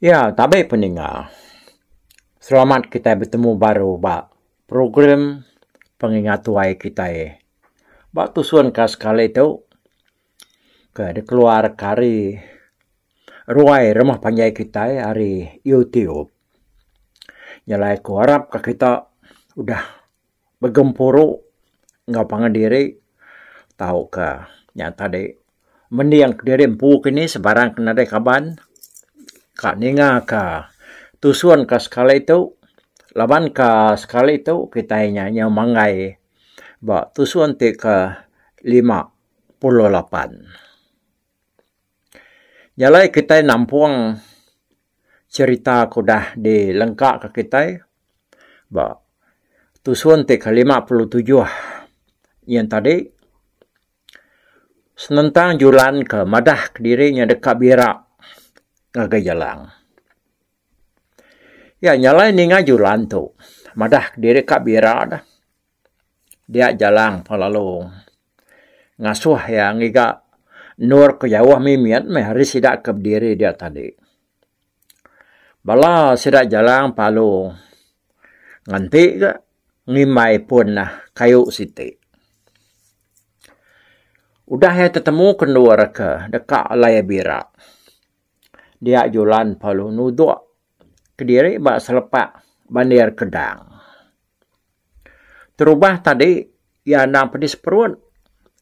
Ya tabe peninga. Selamat kitai betemu baru ba program pengingat tuai kitai ba tusun ka sekali tu. Ke dikeluar ka ari ruai rumah panjai kitai ari YouTube nyelai ku arap ka kita udah begempuru enggau pangan diri tau ka nya tadi mending ka diri empu kini sebarang ke nadai kaban ka ninga ka tusun ka sekali tu laban ka sekali tu kitai nya nyau manggai ba tusun ti ke lima. puluh lapan. Jalai kitai nampung cherita ke udah dilengkaka kitai ba tusun ti ke lima puluh tujuh yen tadi senentang julan ke madah kediri nya deka bira ngagai jalang. Ya jalai ninga julan tu madah kediri ka bira dah. dia jalang pengelallu ngasuh iya ngiga endur ke jauh mimit meh ari sida ke bediri dia tadi. Bala sida jalang palu nganti ga ngimbai pun nah kayu siti. Udah iya tetemu ke endur ke deka alai iya bira dia julan palu nudok kediri ba selepak bandir kedang. Terubah tadi iya endang pedis perut,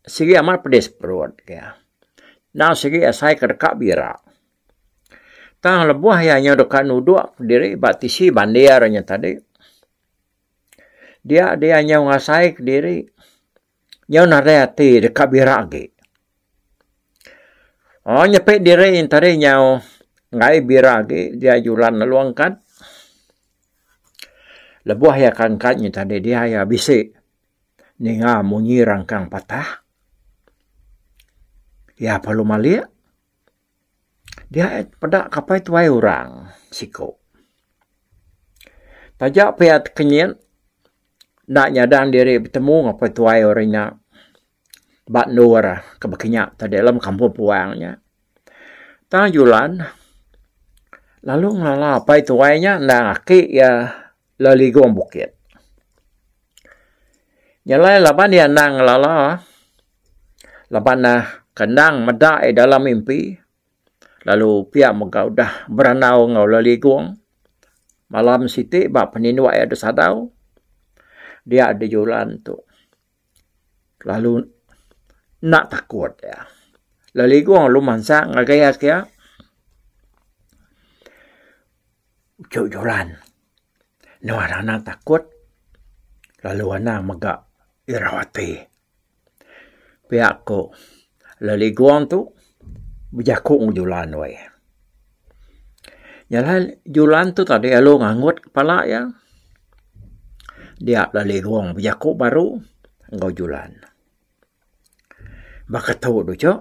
sigi amat pedis perut iya. Endang sigi asai ke deka bira. Tang lebuh iya nyau deka nuduk diri ba tisi bandir nya tadi, dia dia nyau ngasai kediri. Nyau nadai ati deka bira agi. Oh nyepi diri enta deh nyau ngai bira agi dia julan lalu angkat. Lebuh iya ke angkat nyi tadi dia iya bisi ninga munyi rangkang patah. Iya perlu malik. Diae peda kapai tuai orang siko. Taja pia tekenyit enda nyadang diri betemu ngapai tuai orang nya ba endur ke bekinya tadi lem kampung puang nya. Tang julan lalu ngelala apai tuai nya endang aki iya Laligong Bukit. Nyelai laban iya endang ngelala, laban ne kendang meda iya dalam mimpi lalu pia mega udah berandau enggau Laligong malam siti ba penindu iya disadau dia dijulan tu. Kelalu enda takut iya. Lalu ligong lu mansa ngagai iya kiya uchu juran. Nuan anang takut lalu anang mega irau ati. Pia ku. Leligong tu bejaku ngan Julan weh. Nyelai Julan tu tadi lalu ngangut kepala iya. Dia Leligong bejaku baru enggau Julan. Baka tu deh icuk.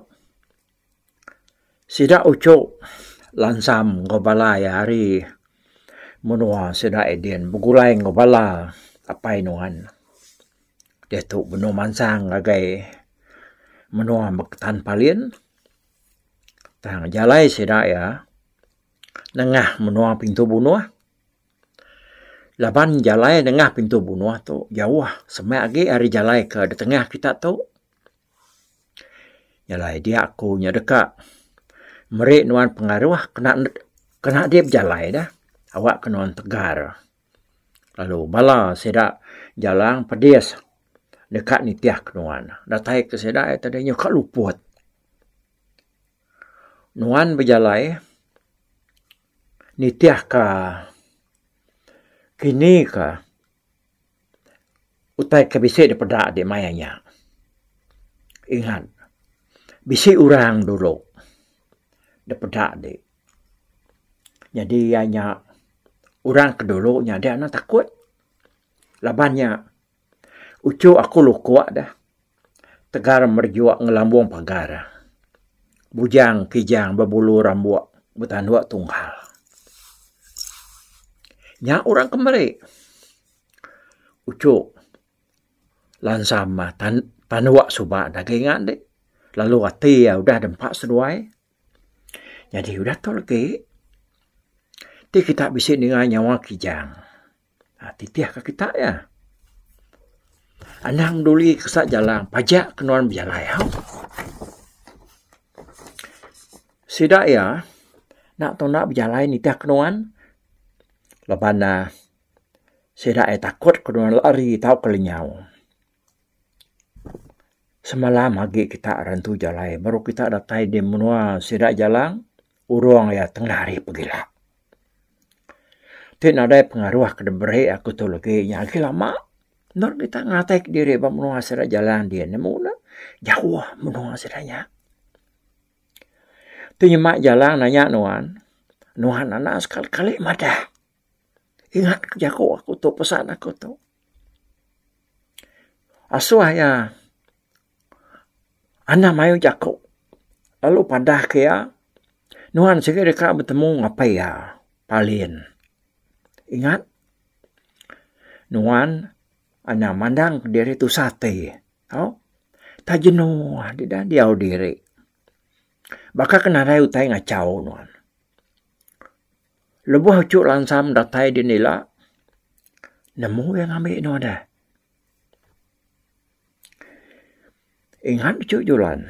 Sida uchuk lansam enggau bala iya hari menua sida Eden begulai enggau bala apai nuan. Diatu benung mansang ngagai menua Tan Palin tang jalai sida iya nengah menua Pintu Bunuh laban jalai nengah Pintu Bunuh tu jauh seme agi ari jalai ke ditengah kita tu. Jalai dia ku nya deka meri nuan pengaruh kena kena dip jalai deh awak ke nuan tegar. lalu bala sida Jalang Pedis deka nitih ke nuan. Datai ke sida ia tadi nyuka luput. Nuan bejalai nitih ka kini ka utai ke bisi dep peda agi maya nya. Ingat bisi orang dulu dep peda agi. Nyadi iya nya orang ke dulu nyadi anu takut laban nya uchu aku luko deh tegal merejok ngelambong pagar bujang kijang bebulu rambok betandu tunggal. Nya orang ke meri uchu lansam tandu suba daging ande lalu ati iya udah dempa seduai. Nyadi udah tu agi ti kita bisi ninga nyawa Kijang titih ka kita iya. Anang duli kesa jalang paja ke nuan bejalai hau. Sida iya enda tuna bejalai nitih ke nuan laban ne sida iya takut ke nuan lari tauka lenyau. Semalam agi kita rentu jalai baru kita datai di menua sida Jalang urung iya tengah hari pegila. Ti nadai pengaruh ke diberi aku tu legi nya agi lama enda legi kita ngatai diri ba menua sida Jalang di ne mung ne jauh menua sida nya. Tu nyema Jalang nanya nuan, nuan anak sekali kali madah. Ingat ke jaku aku tu, pesan aku tu. Asuh iya anang mayuh jaku lalu padah ke iya nuan sigi deka betemu apai iya, Palin. Ingat nuan anang mandang diri tusah ati tau. Entah jenu deda diau diri. Baka ke nadai utai ngachau nuan. Lebuh Uchu Lansam datai din ila, nemu iya ngambi inu deh. Ingat Uchu Julan,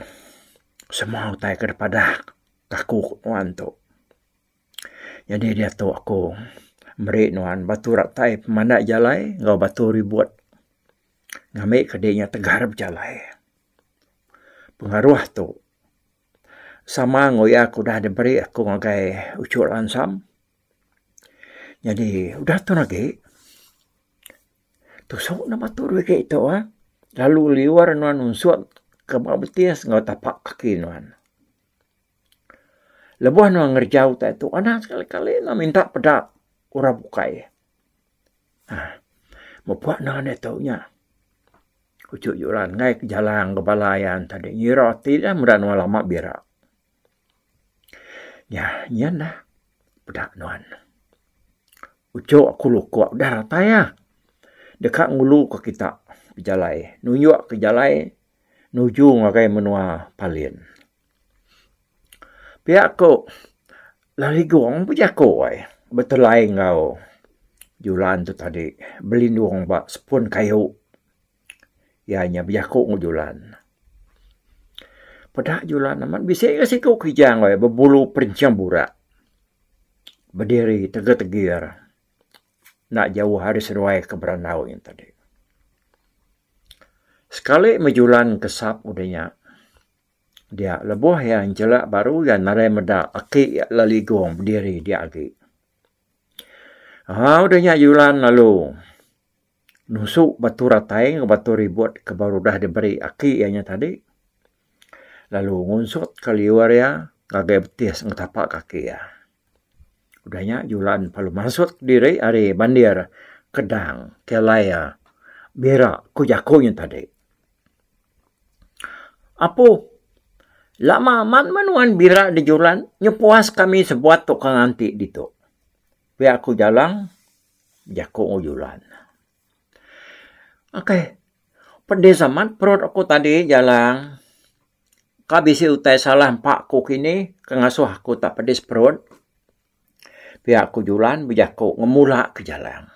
semua utai ke dipadah aku ku nuan tu. Nyadi diatu aku meri nuan batu ratai pemanda jalai enggau batu ribut ngambi ke dinya tegar bejalai. Pengaruh tu. sama enggau iya ke udah diberi aku ngagai uchu lansam nyadi udah tu agi tusu ne batul agi tu ah lalu liwar nuan unsut ke ba betis enggau tapa kaki nuan. Lebuh nuan ngerejau utai tu anak sekali kali ne minta peda orang bukai. Aah. Mepak naan iya tu nya. Uchu Juran ngaih ke jalang ke bala iya tadi ngira ati iya meda nuan lama bira. Nya nyin lah peda nuan. Uchu aku luka udah ratai iya. Deka ngulu ke kita bejalai. Nunjuk ke jalai nuju ngagai menua Palin. Pia ku Laligong bejaku ai betulai enggau Julan tu tadi belindung ba sepun kayu iya nya bejaku enggau Julan. Peda Julan amat bisi ga siku Kijang ai bebulu perinching burak bediri tegir tegir enda jauh ari seduai ke berandau nya tadi. Sekali meh Julan kesap udah nya. Dia lebuh iya njelak baru iya nadai meda aki iya leligong bediri dia agi. Au deh nya Yulan lalu nusu batu ratai enggau batu ribut ke baru udah diberi aki iya nya tadi lalu ngunsut ka liur iya ngagai betis enggau tapa kaki iya. Udah nya julan palu mansut diri ari bandir kedang kelair bira ku jaku nya tadi. Apu lama amat meh nuan bira di julan nyau puas kami sebuat tukang anti ditu. Pia ku Jalang bejaku enggau julan. Ok, pedi zaman perut aku tadi jalang ka bisi utai salah empa ku kini ke ngasuh aku tak pedis perut pia ku julan bejaku ngemula ke jalang.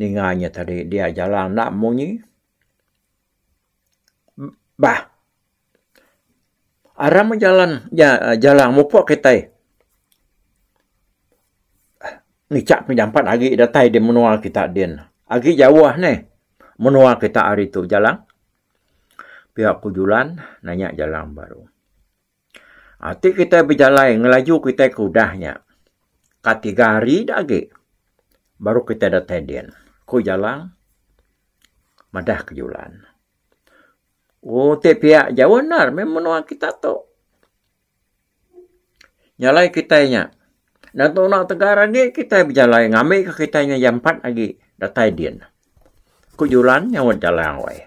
Ninga inya tadi dia jalang enda munyi. Bah. Aram meh jalan jalang mupuk kitai ngichak penyampat agi datai di menua kita din. Agi jauh ni menua kita ari tu jalang. Pia ku julan nanya jalang baru. Ati kitai bejalai ngelaju kitai ke udah nya. Ka tiga hari da agi baru kitai datai din, ku Jalang madah ke Julan. Oh, ti pia jauh endar meh menua kita tu. Nyalai kitai nya. Enda tuna tegar agi kitai bejalai ngambika kitai nya jampat agi datai din, ku Julan nyaut Jalang wai.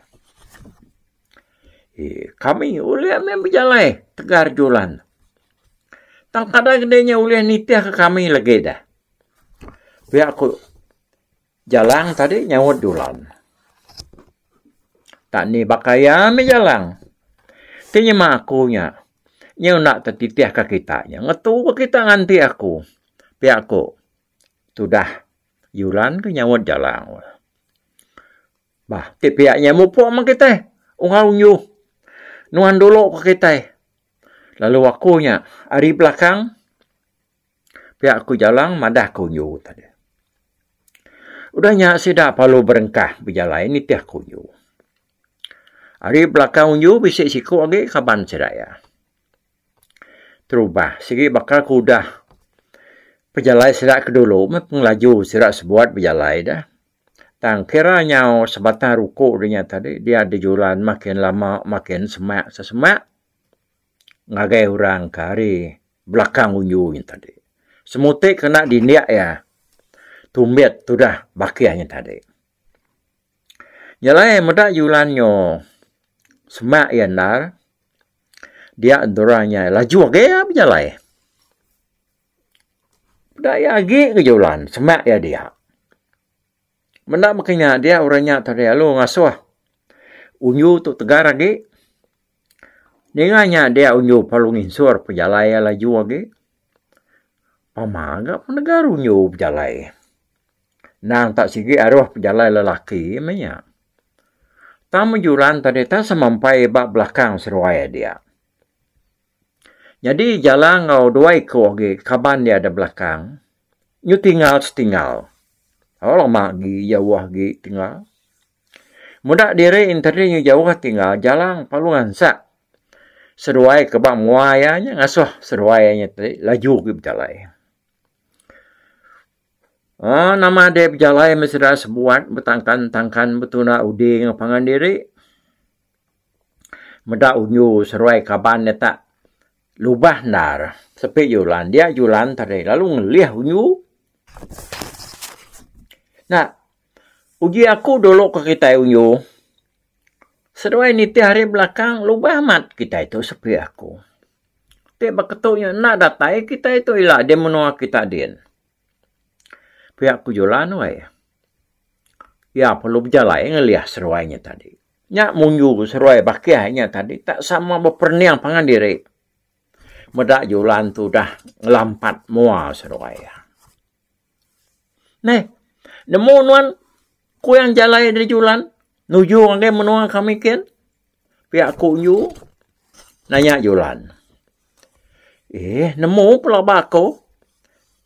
Kami ulih meh bejalai tegar julan. Tang kadang ke deh nya ulih nitih ke kami legi deh. Pia ku Jalang tadi nyaut julan. Tak ni baka iya meh Jalang. Ti nyema aku nya, nya enda ke titih ke kita nya. Ngetu ke kita nganti aku. Pia ku tudah julan ke nyaut Jalang. Bah, ti pia nya mupuk meh kitai. Orang unyuh. Nuan dulu ke kitai. Lalu aku nya ari belakang pia aku jalang madah ke unyu tadi. Udah nya sida palu berengkah bejalai nitih ke unyu. Ari belakang unyu bisi siku agi kaban sida iya. Terubah sigi baka ke udah pejalai sida ke dulu meh pengelaju sida sebuat bejalai dah. Tang kira nyau sebatang ruku ri nya tadi dia dijulan makin lama makin semak sesemak ngagai orang ke ari belakang unju nya tadi. Semuti kena dindik iya tumbit tudah bakih nya tadi. Nya alai meda julan nyo semak iya endar dia endurang iya laju age bejalai. Peda iya agi ke julan semak iya dia. Menda baka inya dia orang inya tadi lalu ngasuh unju tu tegar agi. Ninga inya dia unju perlu nginsur pejalai iya laju agi. Pama ga penegar unju pejalai. Nang tak sigi aruh pejalai lelaki meh inya. Tang bejulan tadi tak semampai ba belakang seruai iya dia. Nyadi jala enggau dua iku agi kaban dia da belakang nyu tingal setingal. Au lama agi jauh agi tingal. Muda diri enter diri nyu jauh tingal jala palu ngansak seduai ke ba mua iya nya ngasuh seduai iya nya ti laju agi bejalai. Aaa nama dep bejalai meh sida sebuat betangkan-tangkan betuna uding pangan diri. Meda unyu seruai kaban iya tak lubah endar. Sepi julan dia julan tadi lalu ngelih unyu. Nah uji aku dulu ke kitai unyu seduai nitih hari belakang lubah amat kitai tu sepi aku. Ti ba ketu nya enda datai kitai tu ila di menua kita din. Pia ku julan weh. Iya perlu bejalai ngelih seruai nya tadi. Nya munju seruai bakih inya tadi tak sama beperening pangan diri. Meda julan tu udah ngelampat mua seruai iya. Neh, nemu nuan kuyang jalai ari julan nuju ngagai menua kami kin? Pia aku nju nanya julan. Eh, nemu pelaba aku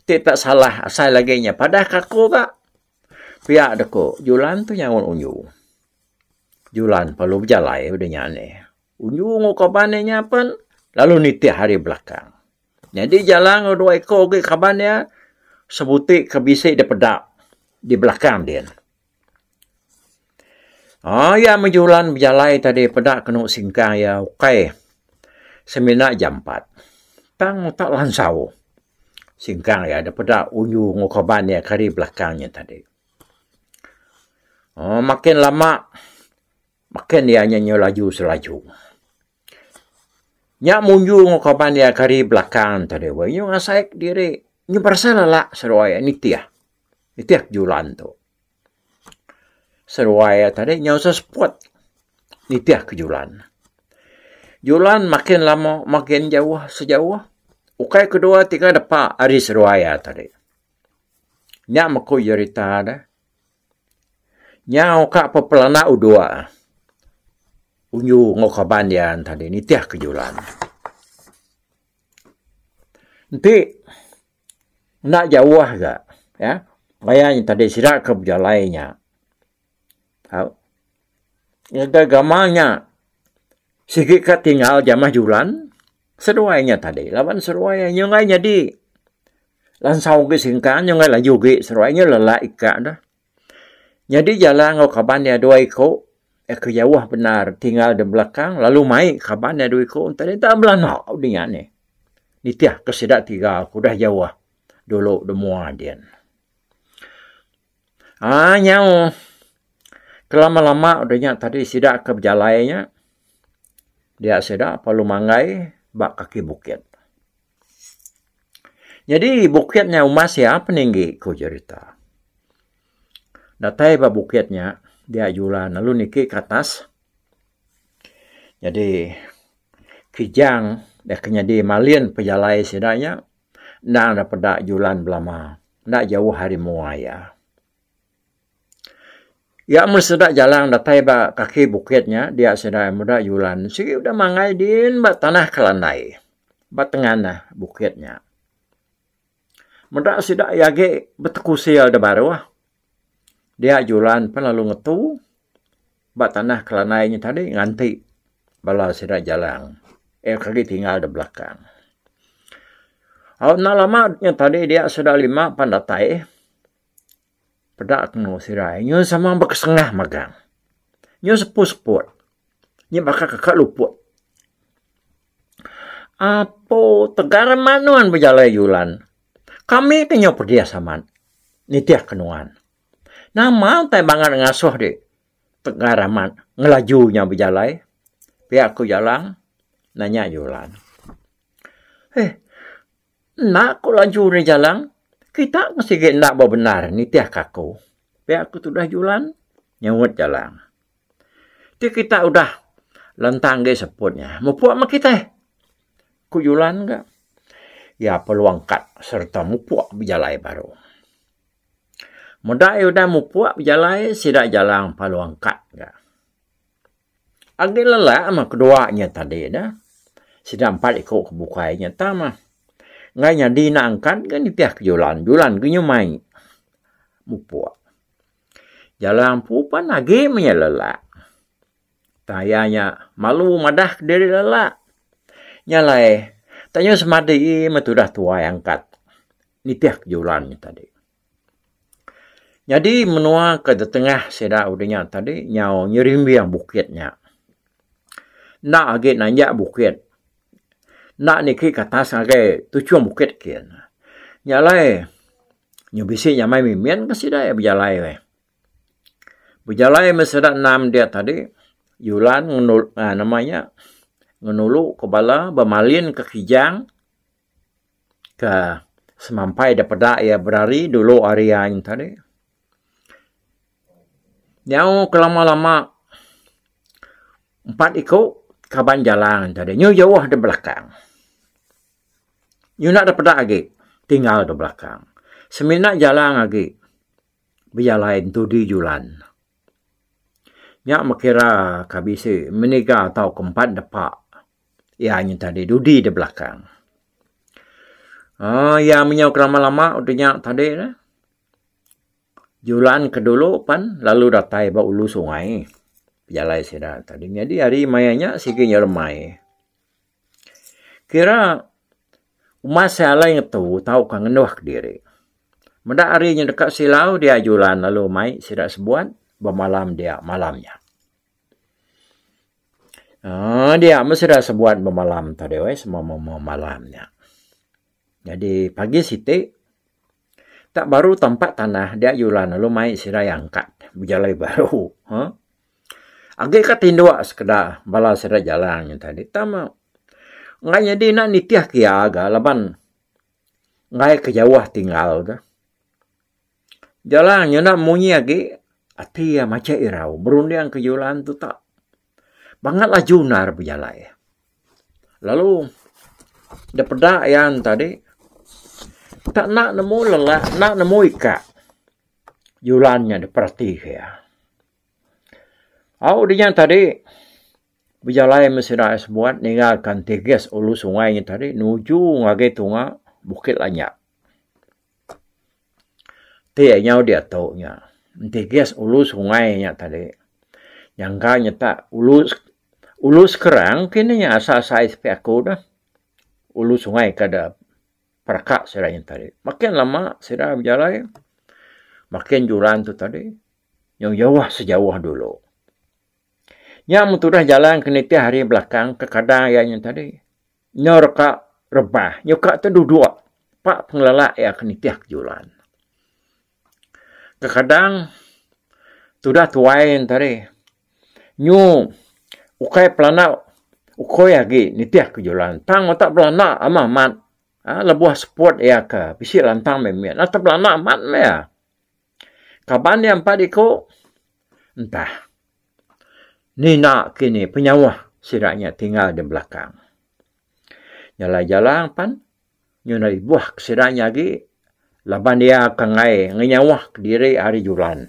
ti tak salah asai lagi inya padahka aku ga. Pia deku julan tu nyaut unju. Julan perlu bejalai ba dunya ni. Unjung enggau kaban iya nya pen lalu nitih hari belakang. Nyadi Jala enggau dua iku agi kaban iya sebuti ke bisi dipeda di belakang din. Aaa iya meh Julan bejalai tadi peda kenu singkang iya ukai semina jampat tang utak lansau. Singkang iya dipeda unjung enggau kaban iya ke hari belakang iya tadi. Aaa makin lama makin iya nya nyau laju selaju. Nya munjung enggau kaban iya kari belakang tu deh wei nyau ngasai kediri nyu beresa lala seruai iya nitih. Nitih kejulan tu. Seruai iya tadi nyau seh seput nitih kejulan. Julan makin lama makin jauh sejauh ukai kedua tiga depa ari seruai iya tadi. Nya meku jerita de. Nya oka pepelana udok Unyu enggau kaban iya enti dia nitih ke julan. Enti enda jauh ga, maya nya tadi sida ke bejalai nya. Au. Ngagai gamal nya, sigi ka tinggal jamah julan, seduai nya tadi laban seduai nya enggai nyadi lansau agi singkang nya enggai laju agi seduai nya lelak ika dah. Nyadi jalan enggau kaban iya dua iku iya ke jauh bendar tinggal di belakang lalu mai kaban iya dua iku enti enda belanda udi nya nih. Nitihka sida tiga ke udah jauh dulu da mua din. Haa nyau. Kelama-lama udah nya tadi sida ke bejalai nya dia sida perlu manggai ba kaki bukit. Nyadi bukit nya uma sia peninggi ku jerita. Datai ba bukit nya dia jula lalu niki ke atas. Nyadi Kijang deka nyadi malin pejalai sida nya. Endang enda peda julan belama, enda jauh ari mua iya. Iya meh sida jalang datai ba kaki bukit nya dia sida meda julan sigi udah mangai din ba tanah ke landai ba tenganah bukit nya. Meda sida iya agi betekusel da baruh. Dia Julan pan lalu ngetu ba tanah Kelanai nya tadi nganti bala sida Jalang eh ke agi tinggal da belakang. Au enda lama nya tadi dia sida lima pan datai peda temu sida ai nyau sama bekesengah magang. Nyau sepu-seput. Nya baka ka luput. Apo tegal mak nuan bejalai julan. Kami ke nyau pedis amat nitih ke nuan. Nama utai bangat ngasuh di tegal amat ngelaju nya bejalai pia ku Jalang nanya Julan. Heh. Enda ku laju ri jalan. Kita pun sigi enda bebendar nitihka aku. Pia ku tudah Julan nyauit Jalang. Ti kita udah lentang agi seput nya. Mupuk meh kitai, ku Julan ga. Iya peluang kad sereta mupuk bejalai baru. Meda iya udah mupuk bejalai sida Jalang peluang kad ga. Agi lelak mah kedua nya tadi dah. Sida empat iku ke bukai nya tah mah. Enggai nyadi enda angkat ke nitih ke Julan. Julan ke nyemai mupuk. Jalang empu pan agi meh iya lelak. Tang iya nya malu madah ke diri lelak. Nya alai tanya semadi meh tudah tuai angkat nitih ke Julan nya tadi. Nyadi menua ke ditengah sida udah nya tadi nyau nyerimbing bukit nya. Enda agi nanjak bukit. Enda niki ke atas ngagai tuchung bukit kiye ne. Nya alai nyau bisi nyamai mimin ke sida iya bejalai meh. Bejalai meh sida enam dia tadi Yulan ngenul aaa nama iya ngenulu ke bala bemalin ke Kijang. ke semampai da peda iya berari dulu hari iya ain tadi. Nyau ke lama-lama empat iku kaban jalan tadi nyu jauh da belakang. Nyu enda da peda agi tinggal da belakang. Semina jalan agi bejalai ntu di julan. Nya makira ka bisi meniga tauka empat depa. Iya nyentah diri dudi di belakang. Oh, iya menyau ke lama-lama udah nya tadi ne. Julan ke dulu pan lalu datai ba ulu sungai. Jalai sida tadi. Jadi hari maya nya sigi nya remai. Kira umat sai alai ngetu tauka ngenduh diri. Meda hari nya deka silau dia Julan lalu mai sida sebuat bemalam dia malam nya. Aaa dia meh sida sebuan bemalam tadi weh sema bemalam nya. Nyadi pagi siti tak baru tampa tanah dia julan lalu mai sida iya angkat bejalai baru huh. Agi ka tindu sekeda bala sida jalan nya tadi tama enggai nyadi ina nitih ke iya ga laban enggai ke jauh tinggal ga. Jalang nyenda munyi agi, ati iya macha irau berunding ke julan tu tak. Bangat laju endar bejalai. Lalu da peda iya tadi tak enda nemu lelak enda nemu ikak julan nya diperatika iya. Au dinya tadi bejalai meh sida ari Sembuan ninggalka enti gas ulu sungai nya tadi nuju ngagai tunga Bukit Lanyap. Ti nyau diatu nya enti gas ulu sungai nya tadi nyangka nyita ulu ulu sekarang mungkin inya asal size pia aku dah ulu sungai ka da peraka sida nya tadi makin lama sida bejalai makin juran tu tadi nyau jauh sejauh dulu. Nya mun tudah jalan ke nitih hari belakang kekadang iya nya tadi. Endur ka rebah nyuka tu duduk pa pengelala iya ke nitih ke julan. Kekadang tudah tuai enta ri nyu ukai pelana ukui agi nitih ke julan tang utak belana amah mat lebuh seput iya ke bisi lantang mih mit. Enta belana mat mih iya. Kaban iya empat iku entah nina kini penyauh sida nya tinggal di belakang. Nyalai jalang pan nyudah ibuh ke sida nya agi laban iya ke enggai ngenyauh ke diri ari julan.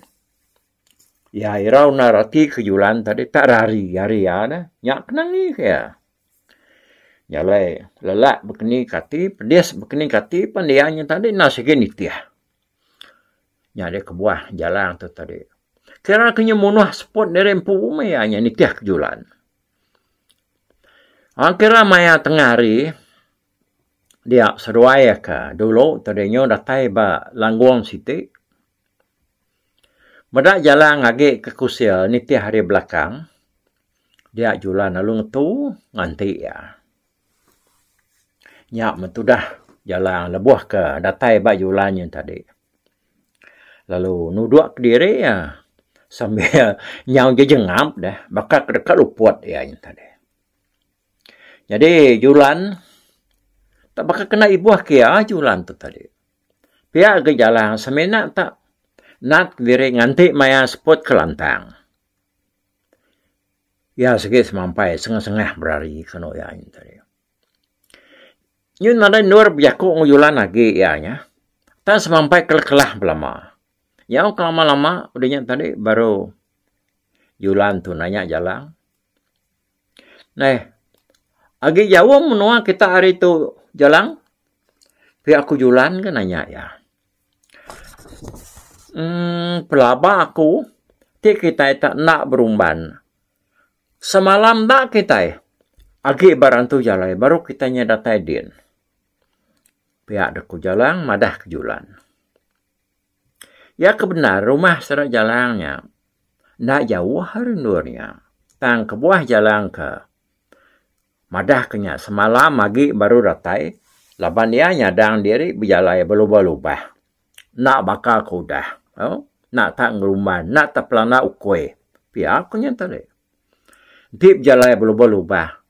Iya irau endar reti ke julan tadi tak rari ari iya dah. Nya ke nangi ke iya. Nyalai lelak bekening ke ati, pedis bekening ke ati pan iya nya tadi enda sigi nitih. Nya deh kebuah jalang tu tadi. Kira ke nya munuh seput diri empu meh iya nya nitih ke julan. Orang kira maya tengah hari dia seduai ka dulu tadi nyu datai ba Langgung siti meda jalang agi ke Kusil nitih ari belakang dia julan lalu ngetu nganti iya. Nya metudah jalan lebuh ke datai ba julan nyin tadi. Lalu nudok kediri iya sambil nyau jejengap deh baka ke deka luput iya nyin tadi. Jadi julan tak baka kena ibuh ke iya julan tu tadi. Pia ga jalan semina tak nat kediri nganti maya seput kelantang. Iya sigi semampai sengah-sengah berari ke anu iya nya tadi. Nyun nadai endur bejaku enggau Yulan agi iya nya. Tang semampai kelah-kelah belama. Nyau ke lama-lama udah nya tadi baru Yulan tu nanya Jalang, Neh, agi jauh menua kita hari tu Jalang? Pia ku Yulan ke nanya iya. Emm pelaba aku ti kitai enda ka berumban semalam enda kitai agi ba rantu jalai baru kitai nyau datai din pia deh ku Jalang madah ke julan. Iya ke bendar rumah sida Jalang nya enda jauh ari endur nya tang kebuah Jalang ka Madah ke nya, semalam agi baru datai laban iya nyadang diri bejalai belubah-lubah. Enda baka ke udah. Au, enda tak ngerumban, enda tak pelanda ukui. Pia ku nya tadi. Enti bejalai belubah-lubah,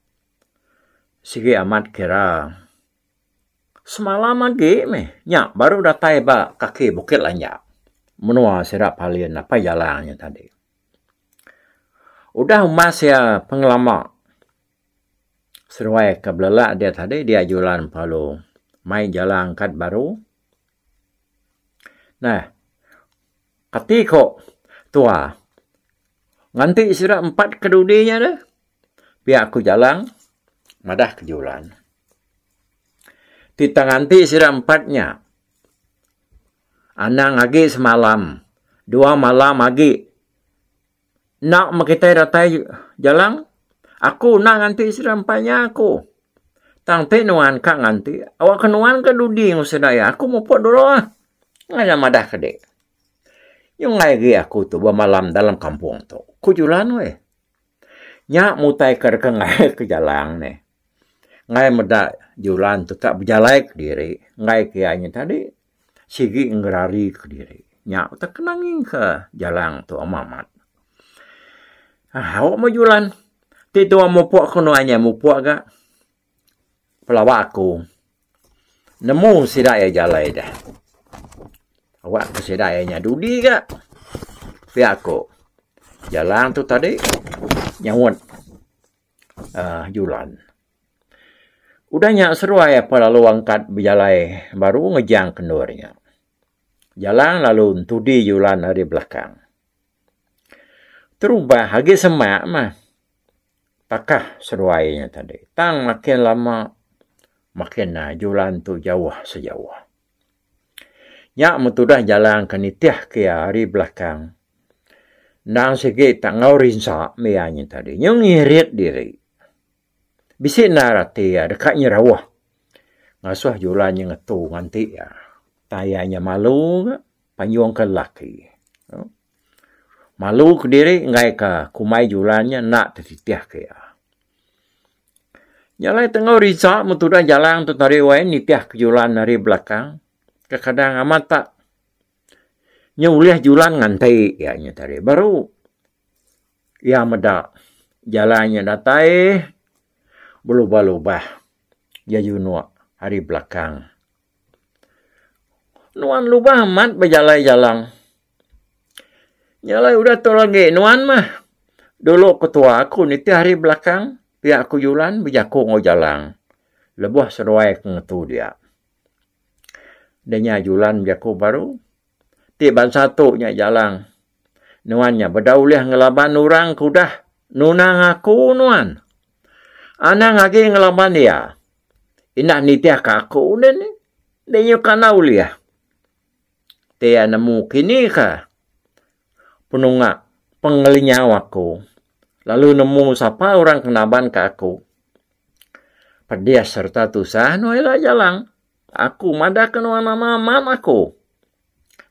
sigi amat kira semalam agi meh nya baru datai ba kaki Bukit Lanjak, menua sida Palin apai jalang nya tadi. Udah umas iya pengelama seduai ke belelak dia tadi dia julan pelalu mai jala angkat baru neh kati ko tua nganti sida empat ke dudi nya deh pia ku Jalang madah ke julan ti tang nganti sida empat nya. Anang agi semalam. Dua malam agi. Enda meh kitai datai Jalang. Aku enda nganti sida empai nya aku. Tang ti nuan ka nganti, awakka nuan ke dudi enggau sida iya. Aku mupuk dulu ah. Ngai iya madah ke dik. Nyunggai agi aku tu bemalam dalam kampung tu, ku Julan weh. Nya mutaika deka ngairka Jalang nih. Ngai meda Julan tu ka bejalai kediri enggai ke iya nya tadi. sigi ngerari ke diri nya utai kena ngingka jalang tua mamat au meh julan ti tua mupok ke nuan iya mupok ga pelaba aku nemu sida iya jalai deh awak ke sida iya nya dudi ga pia ku jalang tu tadi nyaut um julan. Udah nya seruai apai lalu angkat bejalai baru ngejang ke endur nya. Jalang lalu entudi julan ari belakang. Terubah agi semak mah takah seruai nya tadi. Tang makin lama makin nah julan tu jauh sejauh. Nya men tudah jalang ke nitih ke iya ari belakang endang sigi tak enggau rinsa mih iya nya tadi. Nyu ngirit diri. Bisi endar ati iya deka inya rauh ngasuh julan inya ngetu nganti iya. Utai iya inya malu ga panyungka lelaki. Malu kediri enggaika kumbai julan inya enda tetitih ke iya. Nya alai tengau Riza meh tudah jalang tu tadi wai nitih ke julan ari belakang. Kekadang amat tak. Inya ulih julan nganti iya inya tadi baru. Iya meda jalai nya datai belubah-lubah iya junuk ari belakang. Nuan lubah amat bejalai jalang. Nya alai udah tu agi nuan mah. Dulu ketua aku nitih ari belakang pia aku julan bejaku enggau jalang lebuh seduai ke ngetu dia. Deh nya julan bejaku baru. Ti bansa tu nya jalang. Nuan nya beda ulih ngelaban orang ke udah nunang aku nuan. Anang agi ngelaban iya. Indah nitih ka aku nih ni. Enda nyuka enda ulih. Ti iya nemu kini ka penunga pengelinyau aku lalu nemu sapa orang ke naban ka aku. Pedis serta tusah nuan ila jalang. Aku madahka nuan nama amat aku.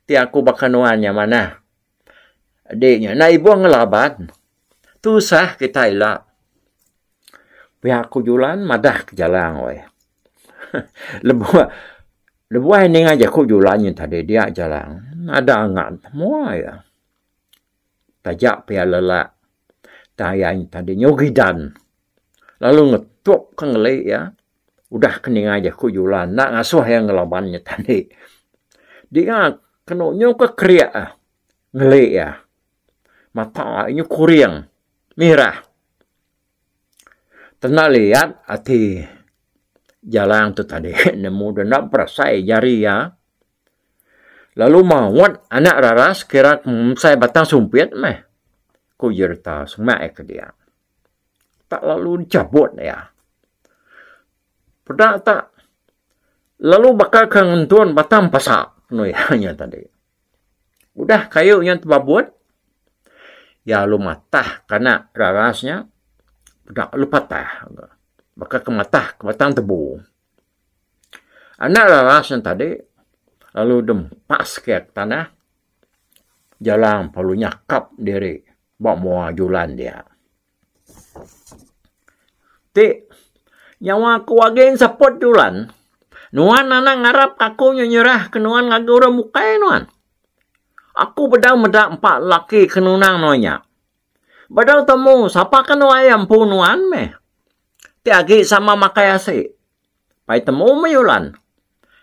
Ti aku baka nuan nya manah. Adi nya enda ibuh ngelaban. Tusah kitai ila. Pia aku Julan madah ke Jalang weh. Lebuh lebuh ninga jaku Julan nya tadi dia Jalang ada angan mua iya. Taja pia lelak tayang tadi nyau gidan lalu ngetuk ke ngeli iya. Udah ke ninga jaku jula enda ngasuh iya ngelaban nya tadi. Dinga kenu nyu ke kerik eh ngeli iya. Mata iya nyu kuring mirah. Tenda liat ati Jalang tu tadi nemu deh enda berasai jari iya. Lalu maut anak raras kira ke mensai batang sumpit meh, ku Jerita semak iya ke dia. tak lalu dichabut iya. Peda tak lalu baka ke ngentun batang pasak penu iya nya tadi. Udah kayu nya tebabut iya lalu matah kana raras nya peda lalu patah baka ke matah ke batang tebu. Anak raras nya tadi lalu dempas ke iya ke tanah jalang lalu nyakap diri. Ba mua julan dia. Ti nyawa aku agi enseput julan. Nuan anang ngarap aku nyu nyerah ke nuan ngagai orang bukai nuan. Aku bedau meda empa laki ke nunang nuan nya. Bedau temu sapa ke nuan iya empu nuan meh. Ti agi sama makai asi. Pai temu meh julan.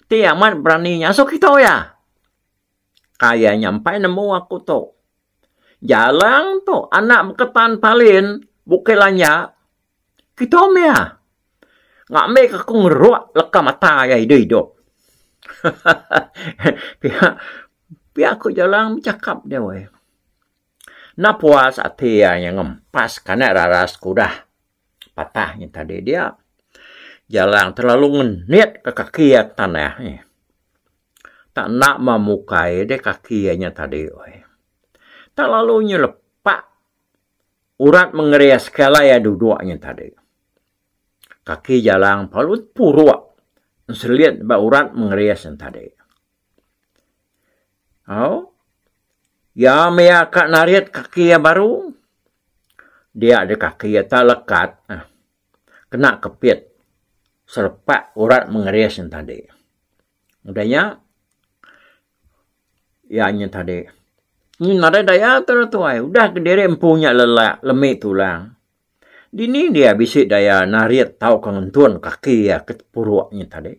Ti amat berani ngasuh kita iya. Ka iya nya empai nemu aku tu. Jarang tu anak beketan Palin bukih lanja. Kitu meh iya. Ngambika aku ngeruk leka mata iya idup-idup. Pia pia aku jarang bechakap dia weh. Enda puas ati iya nya ngempas kana rara sekudah patah nya tadi dia. Jarang telalu ngenit ka kaki iya ke tanah. Tak enda mah mukai deh kaki iya nya tadi weh. Tak lalu nya lepa urat mengeria sekala iya duduk nya tadi. Kaki Jalang palun puruk enselit ba urat mengeria sen tadi. Au, iya maya ka narit kaki iya baru, dia deh kaki iya tak lekat eh kena kepit selepa urat mengeria sen tadi. Udah iya, iya nyin tadi. Nyin madah daya tu lah tuai. Udah ke diri empu nya lelak, lemi tulang. Dini dia bisi daya narit tauka ngentun kaki iya ke puruk nyin tadi.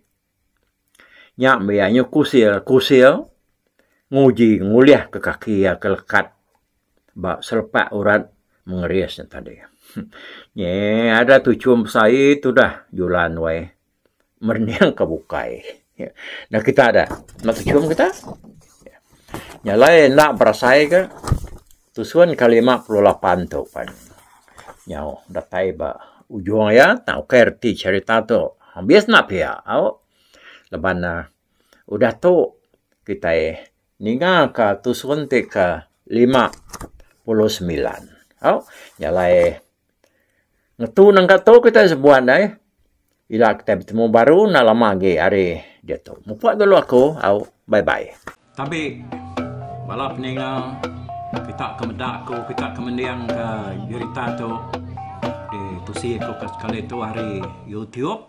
Nya meh iya nyin kusil, kusil nguji ngulih ke kaki iya ke lekat ba selepak urat mengeris nya tadi. Nyi ada tuchum besai tudah julan wai. merening ke bukai. Enda kita dah. Enda kechum kita. Nya alai enda berasai ke tusun ke 58 tu pan nyau datai ba ujung iya tang ukai reti cherita tu. Habis enda pia au. Laban ne udah tu kitai Ninga ka tu suntik ke lima puluh semilan. Au, nya alai ngetu nengka tu kitai sebuat ai. Ila kitai betemu baru enda lama agi ari diatu. Mupuk dulu aku. Au, bye bye. Tabi bala peninga kita ke meda aku, kita ke mendingka berita tu ditusi aku sekali tu ari youtube.